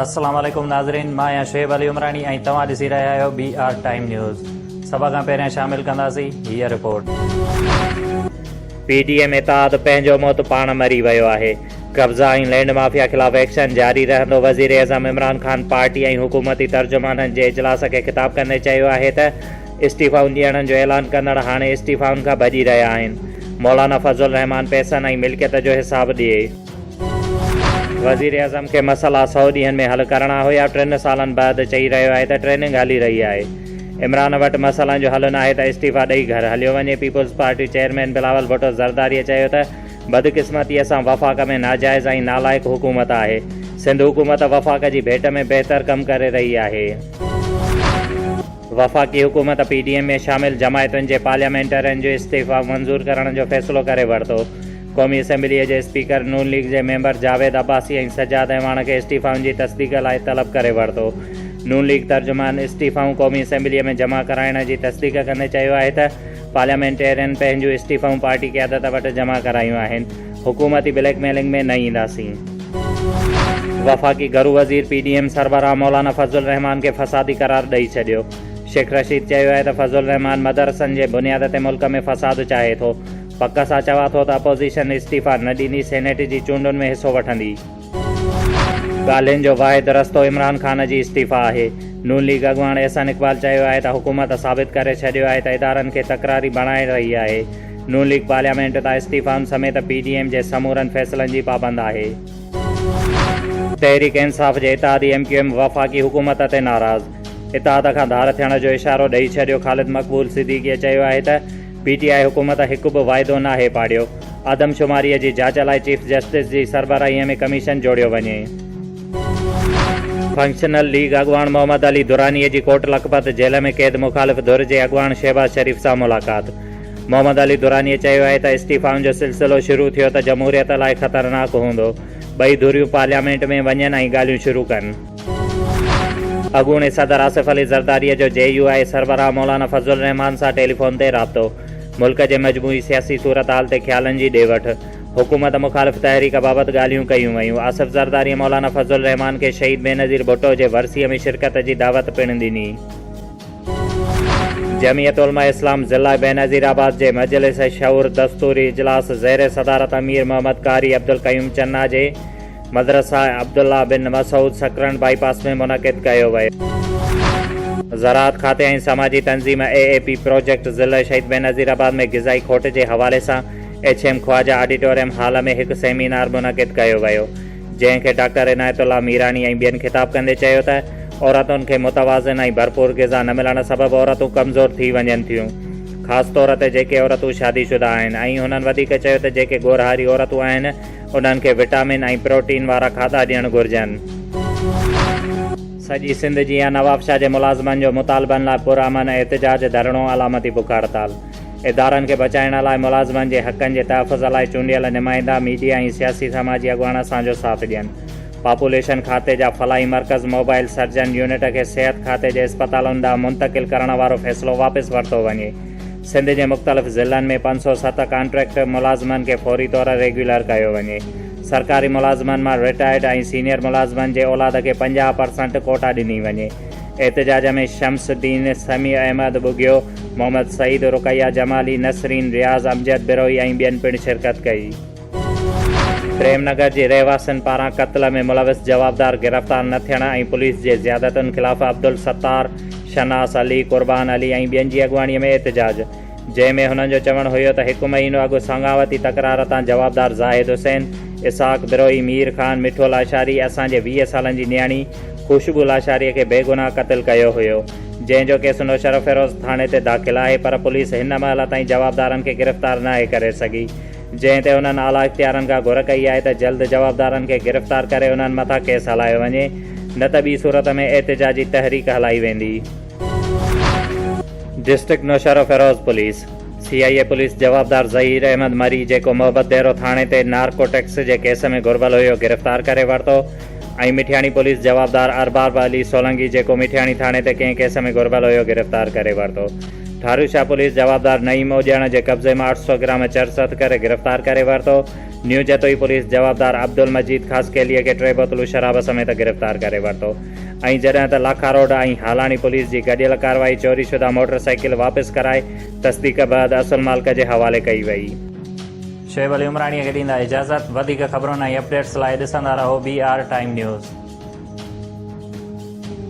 السلام عليڪم ناظرين مان آهيان شعيب علي عمراڻي ۽ توهان ڏسي رهيا آهيو بي آر ٽائيم نيوز سڀ کان پهريان شامل ڪنداسين هي رپورٽ پي ڊي ايم اتحاد پنهنجو موت پاڻ مري ويو آهي قبضا ۽ لينڊ مافيا خلاف ايڪشن جاري رهندو وزيراعظم عمران خان پارٽي ۽ حڪومتي ترجمانن جي اجلاس کي خطاب ڪندي چيو آهي ته استعيفائن ڏيڻ جو اعلان ڪندڙ هاڻي استعيفائن کان ڀڄي رهيا آهن، مولانا فضل الرحمان پئسن ۽ ملڪيت جو حساب ڏئي. وزيراعظم کي مسئلا سؤ ڏينهن ۾ حل ڪرڻا هيا، ٽن سالن بعد چئي رهيو آهي ته ٽريننگ هلي رهي آهي، عمران وٽ مسئلن جو حل ناهي ته استعيفا ڏئي گهر هليو وڃي، پيپلزپارٽي چيئرمين بلاول ڀٽو زرداريء چيو ته بدقسمتيء سان وفاق ۾ ناجائز ۽ نالائق حڪومت آهي، سنڌ حڪومت وفاق جي ڀيٽ ۾ بهتر ڪم ڪري رهي آهي. وفاقي حڪومت پي ڊي ايم ۾ شامل جماعتن جي پارليامينٽرين جو استعيفا منظور ڪرڻ جو فيصلو ڪري ورتو. قومي اسيمبليء جي اسپيڪر نون ليگ جي ميمبر جاويد عباسي ۽ سجاد اعواڻ کي استعيفائن جي تصديق لاء طلب ڪري ورتو. نون ليگ ترجمان استعيفائون قومي اسيمبليء ۾ جمع ڪرائڻ جي تصديق ڪندي چيو آهي ته پارليامينٽرين پنهنجون استعيفائون پارٽي قيادت وٽ جمع ڪرايون آهن. حڪومتي بليڪ ميلنگ ۾ نه اينداسين. وفاقي گهرو وزير پي ڊي ايم سربراهه مولانا فضل الرحمان کي فسادي قرار ڏئي ڇڏيو. شيخ رشيد چيو آهي ته فضل الرحمان مدرسن جي بنياد تي ملڪ ۾ فساد چاهي ٿو. پڪ سان چوان ٿو ته اپوزيشن استعيفيٰ نه ڏيندي سينيٽ جي چونڊن ۾ حصو وٺندي. ڳالهين جو واحد رستو عمران خان جي استعيفيٰ آهي. نون ليگ اڳواڻ احسن اقبال چيو آهي ته حڪومت ثابت ڪري ڇڏيو آهي ته ادارن کي تڪراري بڻائي رهي آهي. نون ليگ پارليامينٽ تان استعيفائن سميت پي ڊي ايم جي سمورن فيصلن جي پابند آهي. تحريڪ انصاف جي اتحادي ايم ڪيو ايم وفاقي حڪومت تي ناراض، اتحاد کان ڌار ٿيڻ جو اشارو ڏئي ڇڏيو خالد مقبول صديقيء چيو آهي ته پي ٽي آء حڪومت هڪ به واعدو ناهي پاڙيو، آدمشماري جي جاچ لاء چيف جسٽس جي سربراهي ۾ ڪميشن جوڙيو وڃي. فنڪشنل ليگ اڳواڻ محمد علي دراني جي ڪوٽ لکپت جيل ۾ قيد مخالف ڌر جي اڳواڻ شهباز شريف سان ملاقات محمد علي دراني چيو آهي ته استعيفائن جو سلسلو شروع ٿيو ته جمهوريت لاء خطرناڪ هوندو ٻئي ڌريون پارليامينٽ ۾ وڃن ۽ ڳالهيون شروع ڪن. اڳوڻي صدر آصف علي زرداري جو جي يو آء سربراهه مولانا فضل الرحمان سان ٽيليفون تي رابطو، ملڪ جي مجموعي سياسي صورتحال تي خيالن جي ڏي وٺ، حڪومت مخالف تحريڪ بابت ڳالهيون ڪيون ويون، آصف زرداري مولانا فضل الرحمان کي شهيد بينظير ڀٽو جي ورسيء ۾ شرڪت جي دعوت پڻ ڏني. جمعيت علماء اسلام ضلع بينظير آباد جي مجلس شعور دستوري اجلاس زير صدارت امير محمد قاري عبدالقيوم چنا جي، مدرسه عبدالله بن مسعود سڪرنڊ بائي پاس ۾ منعقد ڪيو ويو. زراعت کاتي ۽ سماجي تنظيم اي اي پي پروجيڪٽ ضلعي شهيد بينظير آباد ۾ غذائي کوٽ جي حوالي سان H M Khawaja auditorium hall ۾ هڪ سيمينار منعقد ڪيو ويو جنهن کي ڊاڪٽر عنايت الله ميراڻي ۽ ٻين خطاب ڪندي چيو ته عورتن کي متوازن ۽ ڀرپور غذا نه ملڻ سبب عورتون ڪمزور ٿي وڃن ٿيون خاص طور تي جيڪي عورتون شادي شده آهن ۽ هنن وڌيڪ چيو ته جيڪي ڳورهاري عورتون آهن انهن کي وٽامن ۽ پروٽين وارا کاڌا ڏيڻ گهرجن. سڄي سنڌ جيان نوابشاهه جي ملازمن جو مطالبن لاء پرامن احتجاج، ڌرڻو، علامتي بک هڙتال. ادارن کي بچائڻ لاء ملازمن جي حقن جي تحفظ لاء چونڊيل نمائندا، ميڊيا ۽ سياسي سماجي اڳواڻ اسان جو ساٿ ڏين. پاپوليشن کاتي جا فلاحي مرڪز موبائل سرجن يونٽ کي صحت کاتي جي اسپتالن ڏانهن منتقل ڪرڻ وارو فيصلو واپس ورتو وڃي. سنڌ جي مختلف ضلعن ۾ پنج سؤ ست ڪانٽريڪٽ ملازمن کي فوري طور ريگيولر ڪيو وڃي، سرڪاري ملازمن مان رٽائرڊ ۽ سينيئر ملازمن جي اولاد کي پنجاهه پرسنٽ ڪوٽا ڏني وڃي. احتجاج ۾ شمس الدين، سميع احمد ٻگهيو، محمد سعيد، رقيه جمالي، نسرين، رياض، امجد بروهي ۽ ٻين پڻ شرڪت ڪئي. پريم نگر جي رهواسين پاران قتل ۾ ملوث جوابدار گرفتار نه ٿيڻ ۽ پوليس جي زيادتين خلاف عبدالستار، شناس علي، قربان علي ۽ ٻين جي اڳواڻي ۾ احتجاج، جنهن ۾ هنن جو چوڻ هيو ته هڪ مهينو اڳ سانگاوتي تڪرار تان جوابدار زاهد حسين، اسحاق بروهي، مير خان، مٺو لاشاري، اسان جي ويهه سالن جي نياڻي خوشبو لاشاري کي بيگناهه قتل ڪيو هيو، جنهن جو ڪيس نوشهروفيروز ٿاڻي تي داخل آهي پر پوليس هن مهل تائين جوابدارن کي گرفتار ناهي ڪري سگهي. جنهن تي انهن اعليٰ اختيارن کان گهر ڪئي آهي ته جلد جوابدارن کي گرفتار ڪري انهن مٿان ڪيس هلايو وڃي نه ته ٻي صورت ۾ احتجاجي تحريڪ هلائي ويندي. District Naushahro Feroze police, C I A police جوابدار ظهير احمد مري جيڪو محبت ديرو ٿاڻي تي نارڪوٽڪس جي ڪيس ۾ گهربل هيو گرفتار ڪري ورتو. ۽ مٺياڻي پوليس جوابدار ارباب علي سولنگي جيڪو مٺياڻي ٿاڻي تي ڪنهن ڪيس ۾ گهربل هيو گرفتار ڪري ورتو. ٺاروشاه پوليس جوابدار نعيم اوڄاڻا جي قبضي مان اٺ سؤ گرام چرس هٿ ڪري گرفتار ڪري ورتو. نيو جتوئي پوليس جوابدار عبدالمجيد خاصخيليء کي ٽي بوتلون شراب سميت گرفتار ڪري ورتو ۽ جڏهن ته لاکاروڊ ۽ هالاڻي پوليس جي گڏيل ڪارروائي چوري شده موٽر سائيڪل واپس ڪرائي تصديق بعد اصل مالڪ جي حوالي ڪئي وئي. شعيب علي عمراڻيء کي ڏيندا اجازت. وڌيڪ خبرن ۽ اپڊيٽس لاء ڏسندا رهو بي آر ٽائيم نيوز.